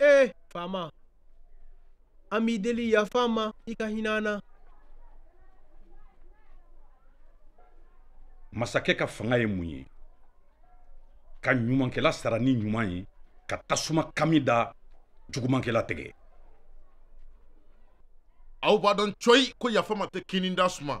ee faama an b'i deli yafa an ma i ka hinɛ an na masakɛ ka fanga ye mun ye ka ɲumankɛla sara ni ɲuman ye ka tasuma kami da jugumankɛla tɛgɛ aw b'a dɔn cɔyi ko yafa n ma tɛ kinni da suma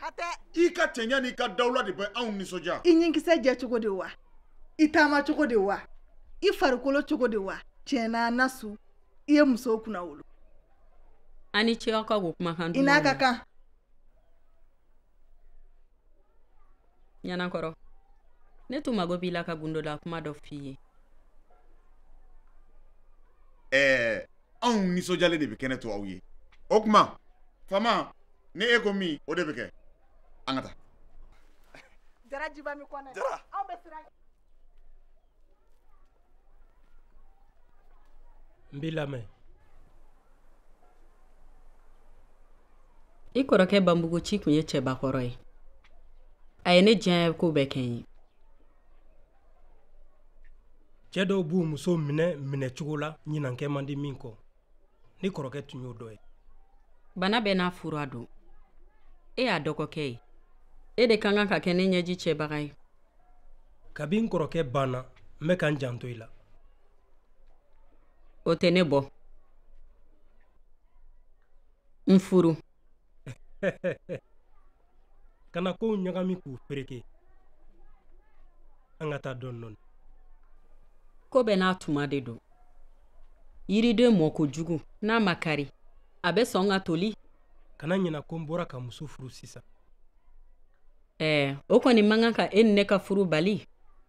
hatɛ i ka cɛɲa n'i ka dawula de bɛ anw nisɔndiya i ɲinkisɛ jɛ cogo de wa i taama cogo de wa i farikolo cogo de wa tiɲɛ na nasu i ye musow kunnawolo ani cɛw ka ko kumakan i n'a ka kan ɲanakɔrɔ ne tun mago b'i la ka gundola kuma dɔ f'i ye ɛɛ anw nisɔndiyalen de bɛ kɛnɛ to aw ye o tuma faama ni e ko min o de bɛ kɛ an ka taa jara jiba mi kɔnɛ jara aw bɛ siran n b'i lamɛn i kɔrɔkɛ banbugu ci tun ye cɛbakɔrɔ ye a ye ne diya ko bɛɛ kɛ n ye cɛ dɔw b'u muso minɛ minɛcogo la ɲinan kɛ man di min kɔ i kɔrɔkɛ tun y'o dɔ ye bana bɛɛ n'a fura don e y'a dɔgɔkɛ ye e de ka kan ka kɛ ne ɲɛji cɛbaga ye kabi n kɔrɔkɛ banna n bɛ ka n janto i la o tɛ ne bɔ n furu kana kow ɲagami k'u fereke an ka taa dɔɔni dɔɔni ko bɛɛ n'a tuma de don yiriden mɔ kojugu n'a ma kari a bɛ sɔn ka toli kana ɲina ko n bɔra ka muso furu sisan ɛɛ o kɔni man kan ka e ni ne ka furu bali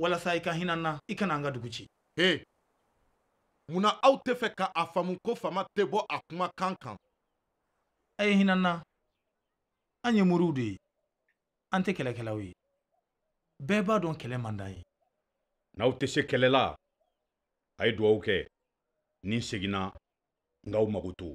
walasa i ka hinɛ an na i kana an ka dugu ci he munna aw tɛ fɛ ka a faamu ko faama tɛ bɔ a kumakan kan a ye hinɛ an na an ye moriw de ye an tɛ kɛlɛkɛlaw ye bɛɛ b'a dɔn kɛlɛ man d'an ye n'aw tɛ se kɛlɛ la a ye dugawu kɛ ni n seginna n k'aw makoto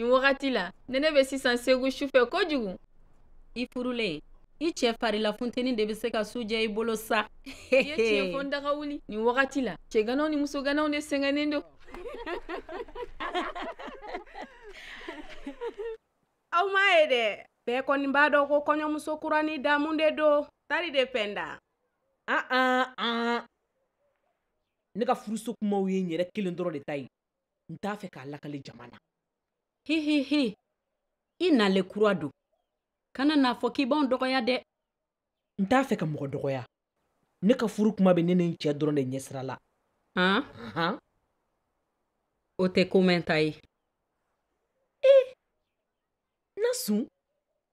nin wagati la nɛnɛ bɛ sisan segu sufɛ kojugu i furulen i cɛ farila funteni de bɛ se ka su jɛ i bolo sa i ye tiɲɛ fɔ n daga wuli nin wagati la cɛganaw ni musoganaw de sɛgɛnnen don aw m'a ye dɛ bɛɛ kɔni b'a dɔn ko kɔɲɔmuso kuranin damu de don tari de pɛnda an an an ne ka furuso kumaw ye n yɛrɛ kelen dɔrɔn de ta ye n t'a fɛ k'a lakali jama na hehehe i nalen kura don kana n'a fɔ k'i b'anw dɔgɔya dɛ n t'a fɛ ka mɔgɔ dɔgɔya ne ka furu kuma bɛ ne ni n cɛ dɔrɔn de ɲɛsira la han o tɛ ko mɛnta ye nasun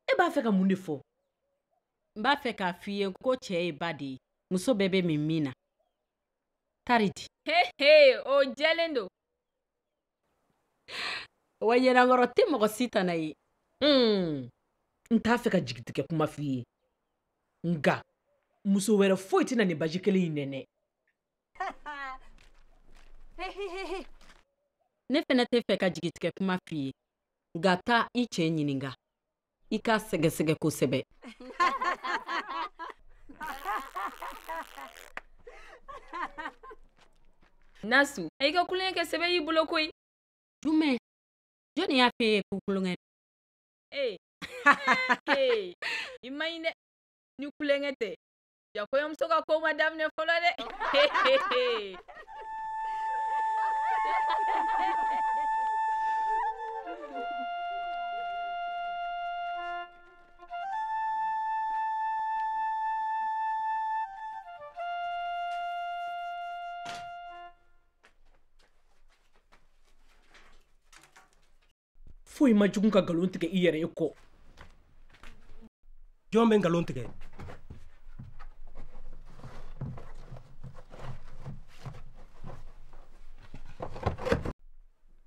e b'a fɛ ka mun de fɔ n b'a fɛ k'a f'i ye ko cɛ ye ba de ye muso bɛɛ bɛ min min na Tari di. He he o jɛlen don. Wa Ɲanakɔrɔ tɛ mɔgɔ si tana ye. Hmm. N t'a fɛ ka jigitigɛ kuma f'i ye. Nka muso wɛrɛ foyi tɛna nin baji kelen in nɛnɛ. Ne fana t'a fɛ ka jigitigɛ kuma f'i ye. Nka taa i cɛ ɲininka. i k'a sɛgɛsɛgɛ kosɛbɛ nasun a y'i ka tulonkɛ kɛ sɛbɛ y'i bolo koyi jumɛn jɔni y'a f'e ye ko tulonkɛ ee i man ɲi dɛ ni tulonkɛ tɛ Jaa kɔɲɔmuso ka ko ma daminɛ fɔlɔ dɛ foyi man jugu ka nkalon tigɛ i yɛrɛ ye kɔ jɔn bɛ nkalon tigɛ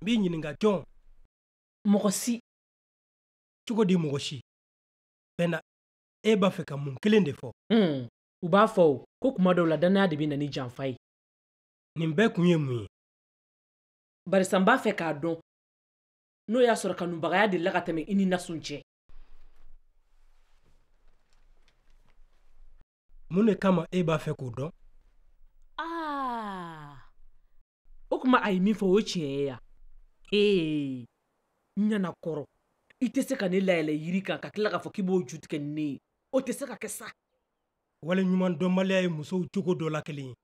n b'i ɲininka jɔn mɔgɔ si cogo di mɔgɔ si bɛnna e b'a fɛ ka mun kelen de fɔ hmm. u b'a fɔ o ko tuma dɔw la dannaya de bɛ na ni janfa ye nin bɛɛ kun ye mun ye barisa n b'a fɛ k'a dɔn n'o y'a sɔrɔ kanubagaya delila ka tɛmɛ i ni nasun cɛ mun de kama e b'a fɛ k'o dɔn ah. o tuma a ye min fɔ o tiɲɛ ye ya ee ɲanakɔrɔ i tɛ se ka ne layɛlɛ yiri kan ka tila k'a fɔ k'i b'o ju tigɛ ni ne ye o tɛ se ka kɛ sa waleɲumandɔnbaliya ye musow cogo dɔ la kelen ye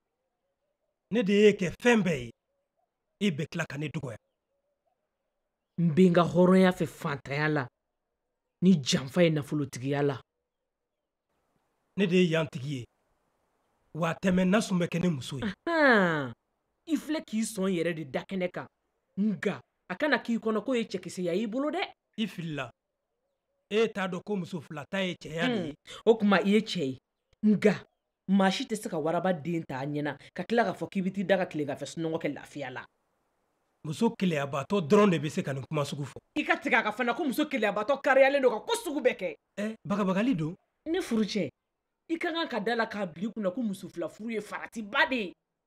ne de y'e kɛ fɛn bɛɛ ye e bɛ tila ka ne dɔgɔya n bɛ n ka hɔrɔnya fɛ fantanya la ni janfa ye nafolotigiya la ne de ye yan tigi ye wa a tɛ mɛɛn nasun bɛ kɛ ne muso ye i filɛ k'i sɔn yɛrɛ de da kɛnɛ kan nka a kana k'i kɔnɔ k'o ye cɛkisɛya y'i bolo dɛ i filila e t'a dɔn ko muso fila ta ye cɛya de ye o tuma i ye cɛ ye nka maa si tɛ se ka waraba den ta a ɲɛna ka tila k'a fɔ k'i bɛ t'i da ka tilegan fɛ sunɔgɔ kɛ lafiya la muso keleyabaatɔ dɔrɔn de bɛ se ka nin kuma sugu fɔ i ka tigɛ a kan fana ko muso keleyabaatɔ kariyalen don ka ko sugu bɛɛ kɛ eh, bagabagali don ne furucɛ i ka kan ka da a la k'a bila i kunna ko muso fila furu ye faratiba de ye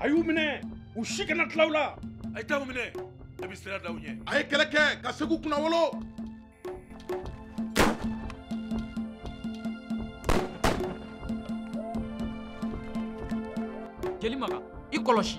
a y'u minɛ u si kana tila aw la a ye taa u minɛ a bɛ sira da u ɲɛ a ye kɛlɛ kɛ ka segu kunnawolo jeli maga i kɔlɔsi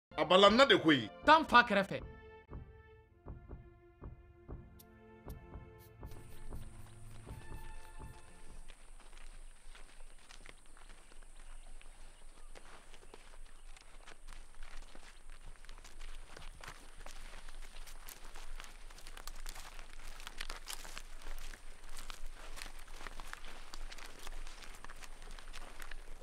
a balanna de koyi taa n fa kɛrɛfɛ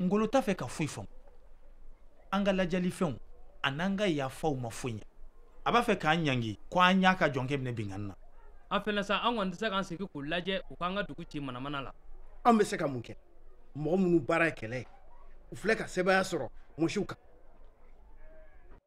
ngolo t'a fɛ ka foyi faamu an ka ladiyalifɛnw a n'an ka yafaw ma foyi ɲɛ a b'a fɛ k'an ɲangi ko an y'a ka jɔnkɛ minɛ binkanni na an fɛnɛ sa an kɔni tɛ se k'an sigi k'u lajɛ u k'an ka dugu ci manamana la an bɛ se ka mun kɛ mɔgɔ minnu baara ye kɛlɛ ye u filɛ ka sebaaya sɔrɔ mɔsiw kan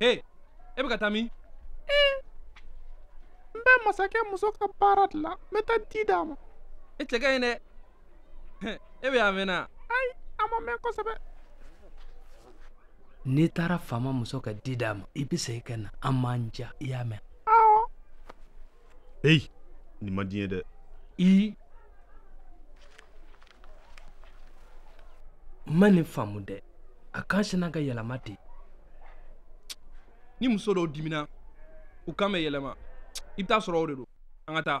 Hey, e bɛ ka taa min? Eh, n bɛ masakɛ muso ka baara de la, n bɛ taa di d'a ma. E cɛ ka ɲi dɛ, e bɛ yan a mɛnna. Ayi, a ma mɛn kosɛbɛ. N'i taara faama muso ka di d'a ma, i bɛ segin ka na, an m'an ja, i y'a mɛn. Hey, nin man di n ye dɛ. N ma nin faamu dɛ. A kan sinna ka yɛlɛma ten. Ni muso dɔw dimina, u kan bɛ yɛlɛma. I bɛ t'a sɔrɔ o de don. An ka taa.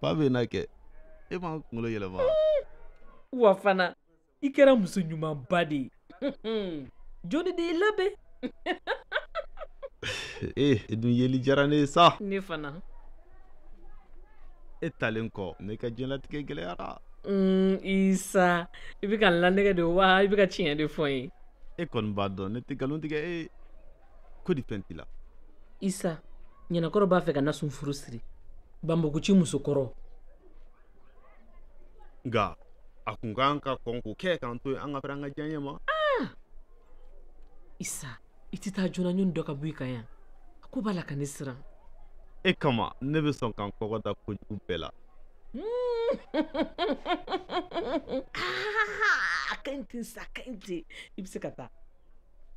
fa bɛ n'a kɛ e ma kunkolo yɛlɛma wa fana i kɛra muso ɲumanba de ye jɔni de y'i labɛn ee e dun yeli diyara ne ye sa ne fana e taalen kɔ ne ka diɲɛlatigɛ gɛlɛyara mm, isa i bɛ ka n lanɛgɛ de wa i bɛ ka tiɲɛ de fɔ n ye e kɔni b'a dɔn ne tɛ nkalon tigɛ e ko di fɛn t'i la isa ɲanankɔrɔ b'a fɛ ka nasun furu siri banbuguci musokɔrɔ nka a kun ka kan ka kɔn k'o kɛ k'an to yen an ka fɛrɛ an ka diyaɲɛ ma ah! isa i tɛ taa joona yanni dɔ ka bɔ i kan yan a ko b'a la ka ne siran e kama ne bɛ sɔn ka n kɔgɔ da kojugu bɛɛ la ah, a ka ɲi ten sa a ka ɲi ten i bɛ se ka taa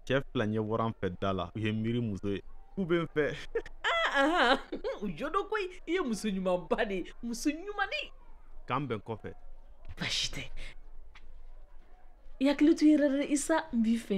cɛ fila ɲɛ bɔra an fɛ da la u ye miiri muso ye k'u bɛ n fɛ u jo don koyi i ye muso ɲumanba de ye muso ɲumannin k'an bɛn kɔfɛ baasi tɛ i hakili to i yɛrɛ la isa n b'i fɛ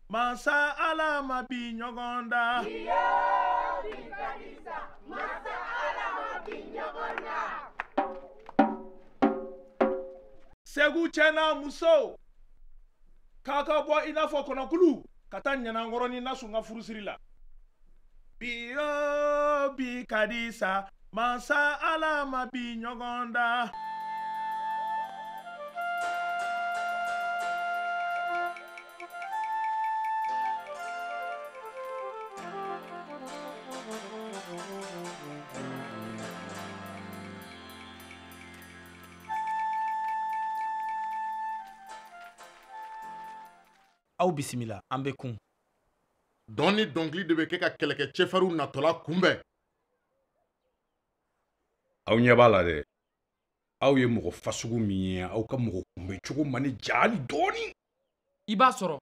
Masa ala ma bi ɲɔgɔn da. Bi o bi ka di sa. Masa ala ma bi ɲɔgɔn da. Segu cɛ n'a muso ka kan ka bɔ i n'a fɔ kɔnɔkulu ka taa ɲanankɔrɔ ni nasun ka furusiri la. Bi o bi ka di sa mansa ala ma bi ɲɔgɔn da. aw bisimila an bɛ kun dɔn ni dɔnkili de bɛ kɛ ka kɛlɛkɛcɛ farinw natɔla kunbɛn aw ɲɛ b'a la dɛ aw ye mɔgɔ fasugu min ye aw ka mɔgɔ kunbɛn cogo ma n ni diya hali dɔɔnin i b'a sɔrɔ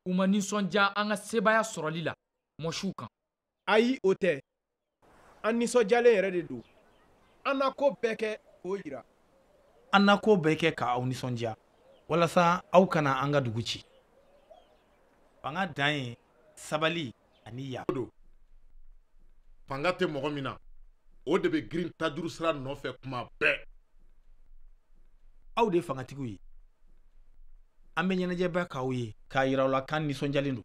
u ma nisɔndiya an ka sebaaya sɔrɔli la mosiw kan ayi o tɛ an nisɔndiyalen yɛrɛ de don an na ko bɛɛ kɛ k'o yira an na ko bɛɛ kɛ k'aw nisɔndiya walasa aw kana an ka dugu ci fanga dan ye sabali an y'a dɔn fanga tɛ mɔgɔ min na o de bɛ girin tajuru sira nɔfɛ kuma bɛɛ aw de ye fangatigiw ye an bɛ ɲɛnajɛba k'aw ye k'a yira aw la k'an nisɔndiyalen don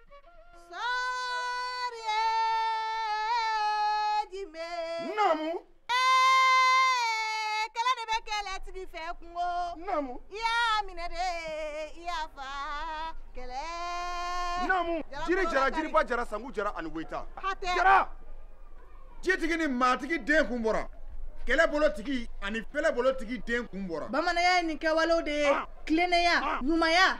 jiriba jara sanku jara ani weyita jara jitigi ni maatigi den kun bɔra kɛlɛbolotigi ani fɛlɛbolotigi den kun bɔra bamananya ye nin kɛwalew de ye tilennenya ɲumanya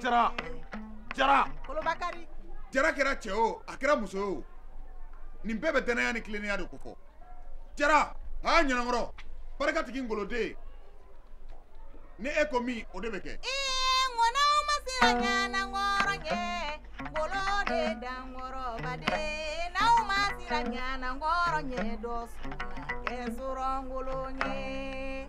jara jara jara kɛra cɛ o a kɛra muso ye o nin bɛɛ bɛ dannaya ni tilennenya de kofɔ jara aa ɲanakɔrɔ barikatigi ngoloden ni e ko min o de bɛ kɛ ŋɔnɔw ma se ka ɲanakɔrɔ kɛ ngolo de dankɔrɔbaden n'aw ma siran ɲanakɔrɔ ɲɛ dɔ sɔrɔ kɛ sɔrɔ ngolo ɲɛ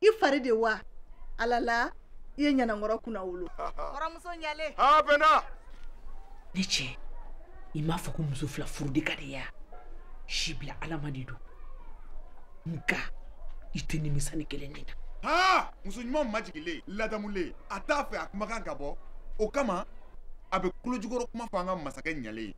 i fari de wa ala la i ye ɲanankɔrɔ kunnawolo kɔrɔmuso ɲale aa pɛnda ne cɛ i m'a fɔ ko muso fila furu de ka di ya si bila ala ma de don nka i tɛ nimisa nin kelen nin na aa muso ɲuman majigilen ladamulen a t'a fɛ a kumakan ka bɔ o kama a bɛ kulojukɔrɔ kuma fɔ an ka masakɛ ɲalen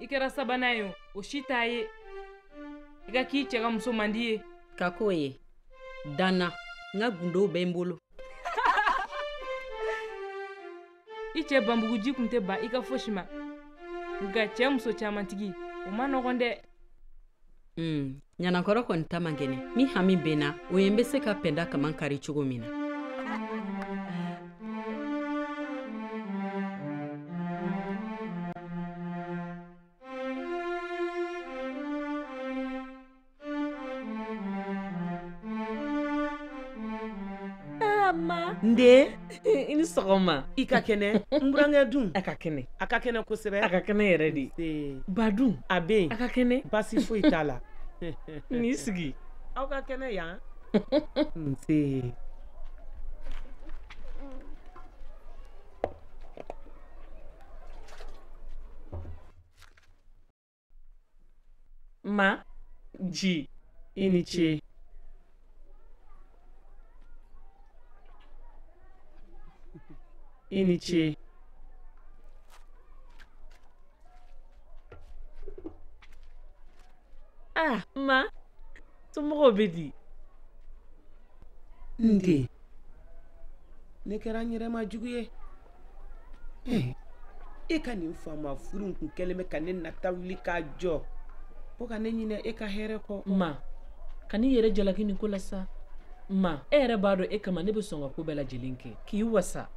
i kɛra sabanan ye o si t'a ye i ka k'i cɛ ka muso mandi ye ka k'o ye da n na n ka gundow bɛ n bolo i cɛ banbuguji kun tɛ ban i ka fosi ma nka cɛ muso camantigi o man nɔgɔn dɛ Mm, ɲanakɔrɔ kɔni ta man gɛlɛn ne hami bɛ min na o ye n bɛ se ka pɛnda kaman kari cogo min na i ni sɔgɔma i ka kɛnɛ n burankɛ dun a ka kɛnɛ a ka kɛnɛ kosɛbɛ a ka kɛnɛ yɛrɛ de ba dun a bɛ yen a ka kɛnɛ basi foyi t'a la n'i sigi aw ka kɛnɛ yan nse Ma. Ji. I ni ce. I ni ce. Ah, ma. Somɔgɔw bɛ di? N den. Ne kɛra n yɛrɛ ma jugu ye. e ka nin faama furuko in kɛlen bɛ ka ne nata wuli k'a jɔ fo ka ne ɲinɛ e ka hɛrɛ kɔ ma kan'i yɛrɛ jalaki nin ko la sa ma e yɛrɛ b'a dɔn e kama ne bɛ sɔn ka ko bɛɛ lajɛlen kɛ k'i wasa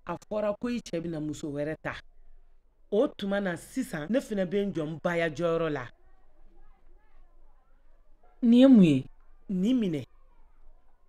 a fɔra ko i cɛ bɛna muso wɛrɛ ta o tuma na sisan ne fana bɛ n jɔ n baya jɔyɔrɔ la nin ye mun ye nin minɛ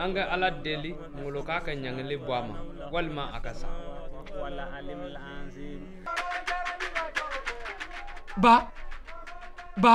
an ka ala deli ngolo k'a ka ɲangili bɔ a ma walima a ka sa ba ba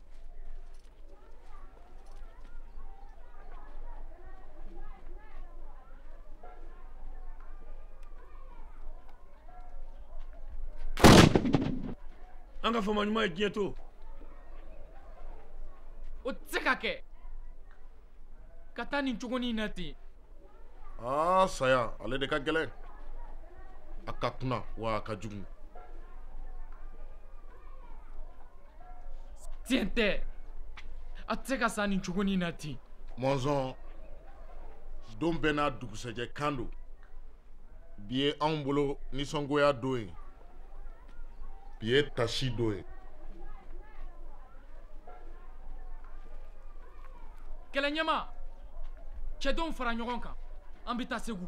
an ka faama ɲuman ye diɲɛ to o tɛ se ka kɛ ka taa nin cogo nin na ten aa saya ale de ka gɛlɛn a ka kuna wa a ka jugu tiɲɛ tɛ a tɛ se ka sa nin cogo nin na ten mɔnzɔn don bɛɛ n'a dugusɛjɛ kan don bi ye anw bolo nisɔngoya don ye bi ye taasi don ye kɛlɛ ɲɛmaa cɛdenw fara ɲɔgɔn kan an bɛ taa segu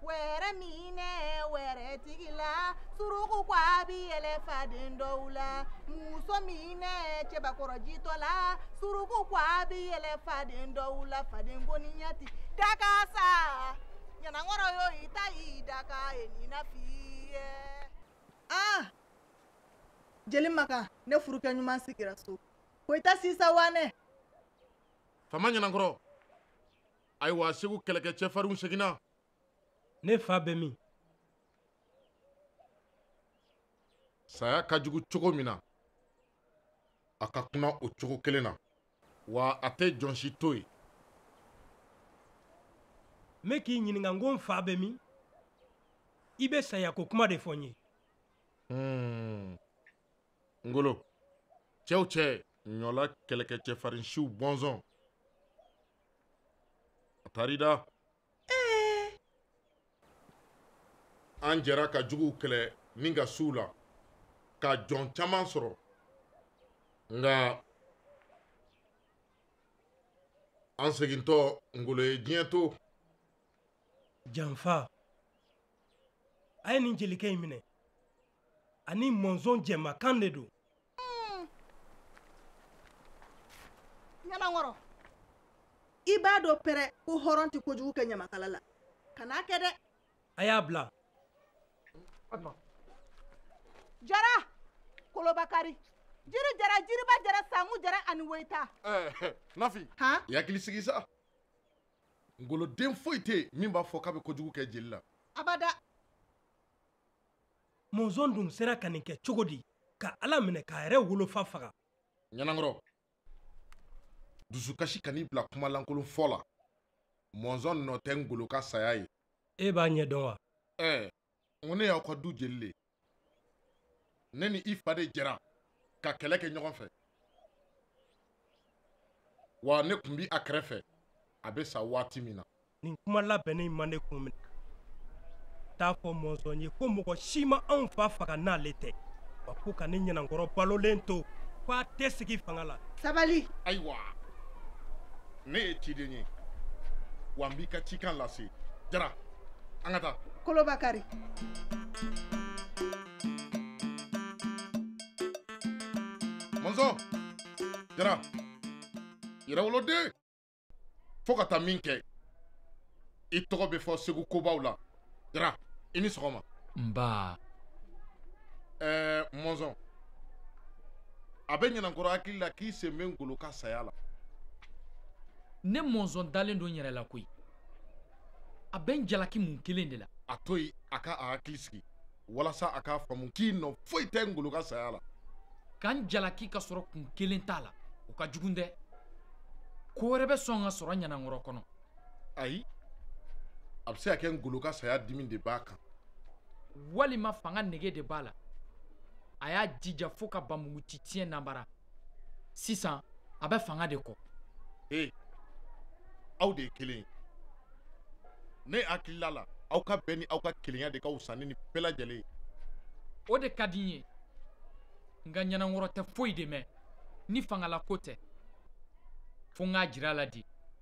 wɛrɛ minɛ wɛrɛtigi la suruku ko an bi yɛlɛ faden dɔw la muso minɛ cɛbakɔrɔ jitɔ la suruku ko an bi yɛlɛ faden dɔw la faden koniya tɛ dakan sa ɲanakɔrɔ yo i ta y'i dakan ye nin na f'i ye. ah jeli maka ne furukɛ ɲuman sigira so ko i ta sisa wa ne. faama ɲanakɔrɔ. ayiwa segu kɛlɛkɛ cɛfarinw seginna ne fa bɛ min saya ka jugu cogo min na a ka kuna o cogo kelen na wa a tɛ jɔn si to yen n bɛ k'i ɲininka n ko n fa bɛ min i bɛ sayako kuma de fɔ n ye hmm. ngolo cɛw cɛ ɲɔla kɛlɛkɛ cɛfarinsiw bɔnsɔn a taara i da an jɛra ka juguw kɛlɛ ni ka suw la ka jɔn caman sɔrɔ nka an segintɔ ngolo ye diɲɛ to janfa a ye nin jelikɛ in minɛ ani mɔnzɔn jɛmakan de don hmm. ɲanankɔrɔ i b'a dɔn pɛrɛ ko hɔrɔn tɛ kojugu kɛ ɲamakala la kan'a kɛ dɛ a y'a bila jara kolobakari jiri jara jiriba jara sangu jara ani woyita eh, eh, nafi i hakili sigi sa ngoloden foyi tɛ yen min b'a fɔ k'a bɛ kojugu kɛ jeli la abada mɔnzɔn dun sera ka nin kɛ cogo di ka ala minɛ k'a yɛrɛ wolofa faga ɲanankɔrɔ dusukasi kan'i bila kuma lankolon fɔ la mɔnzɔn nɔ tɛ ngolo ka saya ye e b'a ɲɛ dɔn wa ɛɛ n ko ne y'aw ka du jeli le ne ni i fa de jɛra ka kɛlɛ kɛ ɲɔgɔn fɛ wa ne tun bi a kɛrɛfɛ a bɛ sa waati min na nin kuma labɛnnen in ma ne kun minɛ t'a fɔ mɔnzɔn ye ko mɔgɔ si ma anw fa faga n'ale tɛ wa ko ka ne ɲanankɔrɔ balolen to ko a tɛ sigi fanga la sabali ayiwa ne ye ciden ye wa n b'i ka cikan lase jara an ka taa kolobakari mɔnzɔn jara yɛrɛwoloden fo ka taa min kɛ i tɔgɔ bɛ fɔ segu kobaw la jara i ni sɔgɔma nba ɛɛ mɔnzɔn a bɛ ɲanankɔrɔ hakili la k'i sen bɛ ngolo ka saya la ne mɔnzɔn dalen don n yɛrɛ la koyi a bɛ n jalaki mun kelen de la a to yen a ka a hakili sigi walasa a k'a faamu k'i nɔ foyi tɛ ngolo ka saya la ka n jalaki ka sɔrɔ kun kelen t'a la o ka jugun dɛ ko wɛrɛ bɛ sɔn ka sɔrɔ ɲanankɔrɔ kɔnɔ ayi a bɛ se ka kɛ ngolo ka saya dimi de b'a kan walima fanga nege de b'a la a y'a jija fo ka bamugu ci tiɲɛ nanbara sisan a bɛ fanga de kɔ ee aw de ye kelen ye ne hakilila la aw ka bɛn ni aw ka kelenya de ka wusa ni nin bɛɛ lajɛlen ye o de ka di n ye nka ɲanankɔrɔ tɛ foyi de mɛn ni fangalako tɛ fo n k'a jira a la de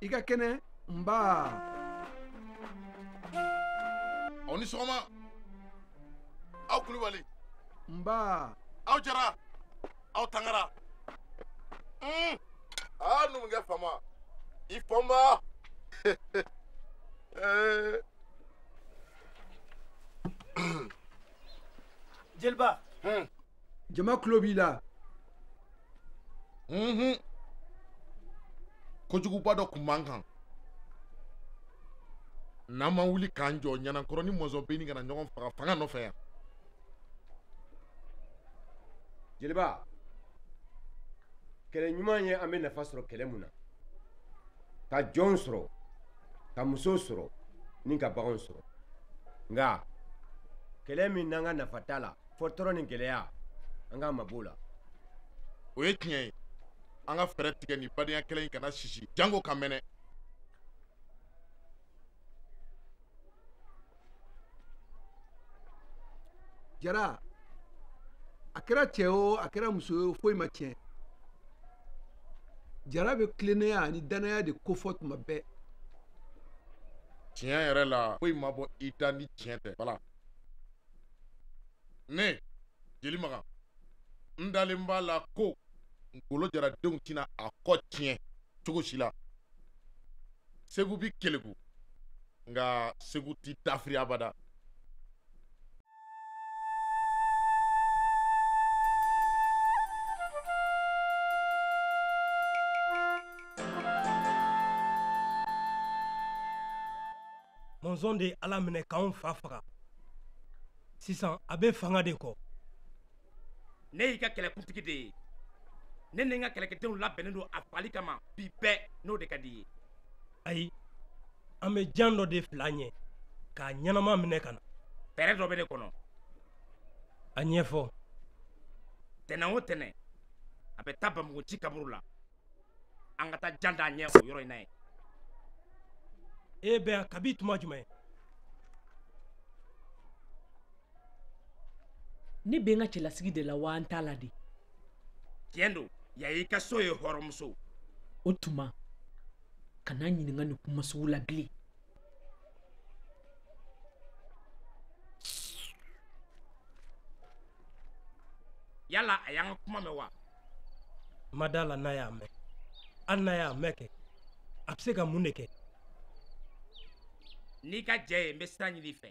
i ka kɛnɛ nba aw ni sɔgɔma aw kulubali nba aw jara aw tangara aa ah, numukɛ fama i fama eh. jeliba hmm. jama tulo b'i la mhm. kojuguba dɔ kun b'an kan n'an ma wuli k'an jɔ ɲanankɔrɔ ni mɔnzɔn bɛ ɲini ka na ɲɔgɔn faga fanga nɔfɛ yan jeliba kɛlɛ ɲuman ye an bɛ nafa sɔrɔ kɛlɛ mun na ka jɔnw sɔrɔ ka musow sɔrɔ ni ka baganw sɔrɔ nka kɛlɛ min n'an ka nafa t'a la fɔ tɔɔrɔ ni gɛlɛya an k'an mabɔ o la o ye tiɲɛ ye an ka fɛɛrɛ tigɛ nin badenya kɛlɛ in kana sisi jango ka mɛnɛ jara a kɛra cɛ o a kɛra muso o foyi ma tiɲɛ jara bɛ tilennenya ani dannaya de kofɔ tuma bɛɛ tiɲɛ yɛrɛ la foyi ma bɔ i da ni tiɲɛ tɛ bala ne jeli makan n dalen b'a la ko ngolo jaradenw tɛna a kɔ tiɲɛ cogo si la segu bi keleku nka segu ti dafiri abada mɔnzɔn de ye ala minɛ k'anw fa faga sisan a bɛ fanga de kɔ ne y'i ka kɛlɛkuntigi de ye ne ni n ka kɛlɛkɛdenw labɛnnen don a fagali kama bi bɛɛ n'o de ka di i ye ayi an bɛ jan dɔ de fil'a ɲɛ k'a ɲɛnama minɛ ka na fɛɛrɛ dɔ bɛ ne kɔnɔ a ɲɛfɔ tɛnɛn o tɛnɛn a bɛ taa banbugu nci kaburu la an ka taa jan d'a ɲɛ o yɔrɔ in na yen e bɛ yan kabi tuma jumɛn ne bɛ n ka cɛlasigi de la wa an t'a la de tiɲɛ don yan y'i ka so ye hɔrɔnmuso o tuma kana n ɲininka nin kuma sugu la bilen yala a y'an ka kuma mɛn wa n ma d'a la n'a y'a mɛn hali n'a y'a mɛn kɛ a bɛ se ka mun de kɛ n'i ka jɛn ye n bɛ sira ɲini i fɛ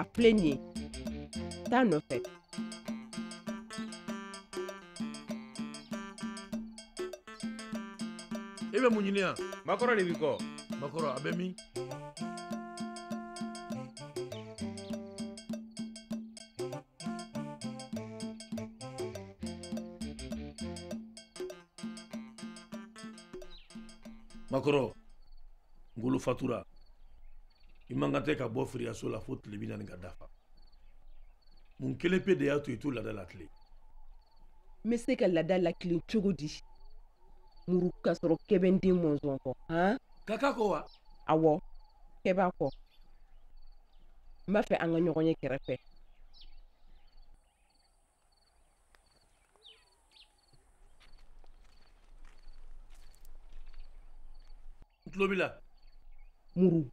A filɛ nin ye taa nɔfɛ e bɛ mun ɲini yan makɔrɔ de b'i kɔ makɔrɔ a bɛ min makɔrɔ ngolo fatura i man kan tɛ ka bɔ firiyaso la fo tile bi naani ka dafa mun kelen pe de y'a to i t'o laada latilen n bɛ se ka laada latilen cogo di muru ka sɔrɔ kɛ bɛ n den mɔnzɔn kɔ han kaka kɔ wa awɔ kɛ b'a kɔ n b'a fɛ an ka ɲɔgɔn ye kɛrɛfɛ tulo b'i la muru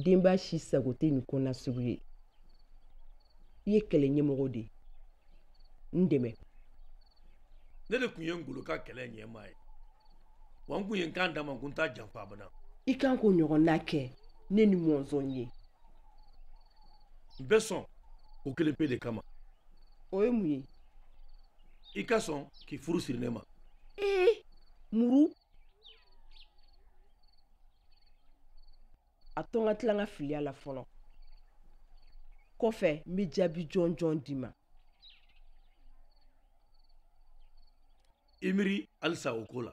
denba si sago tɛ nin ko na sugu ye i ye kɛlɛ ɲɛmɔgɔ de ye n dɛmɛ ne de tun ye ngolo ka kɛlɛ ɲɛmaa ye wa n tun ye n kan d'a ma ko n t'a janfa abada i kan k'o ɲɔgɔnna kɛ ne ni mɔnzɔn ye n bɛ sɔn o kelen pe de kama o ye mun ye i ka sɔn k'i furu siri ne ma ee muru a to n ka tila n ka filiya la fɔlɔ kɔfɛ n bɛ jaabi jɔnjɔn d'i ma i miiri halisa o ko la